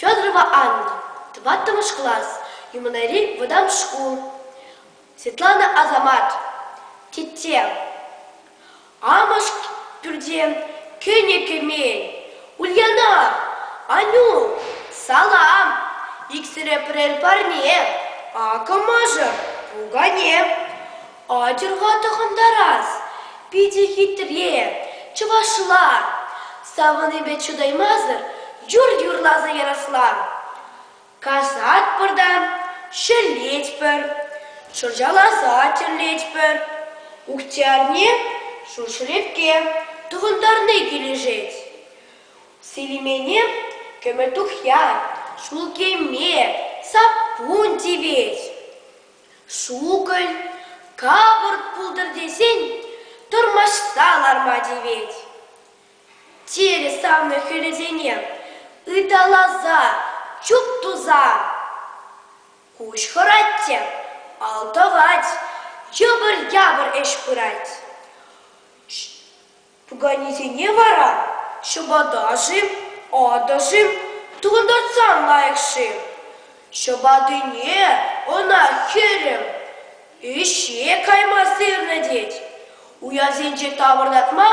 Федорова Анна, тӑваттӑмӗш класс, Юманайри вӑтам шкул. Светлана Азамат, тетте. Амӑш пӳрте кӗнӗ кӗмен. Ульяна, Анюк, салам. Иксӗре пӗрер парне. Акӑ мӑшӑр, пукане. Атьӑр-ха тӑхӑнтарас, питӗ хитре, чӑвашла. Савӑнипе чӑтаймасӑр юр юрласа ярасла. Касатпӑр та ҫӗлетпӗр, шӑрҫаласа тӗрлетпӗр. Ухтиарне шуршӗлепке тӑхӑнтарни килӗшет. Селимене кӗмӗл тухья, ҫул кӗме, саппун тивет. Шукӑль капӑрт пултӑр тесен тӑрмашса ларма тивет. Терӗ савнӑ хӗлӗсене ыталаса, чуп туса. Куҫ хӑрать те алтӑвать, йӑпӑр-япӑр ӗҫ пырать. Пуканесене вара ҫӑпата-шим, атӑ-шим, тултартсан лайӑх-шим? Ҫӑпатине ӑна хӗрӗм ӗҫе кайма сырнӑ тет. Уясенче тавӑртатма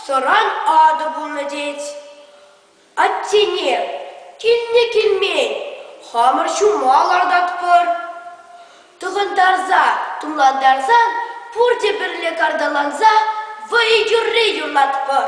сӑран атӑ пулнӑ тет. Аттене, килне-килмен хамӑр ҫума лартатпӑр. Тӑхӑнтарса, тумлантарсан пурте пӗрле карталанса вӑй юрри юрлатпӑр.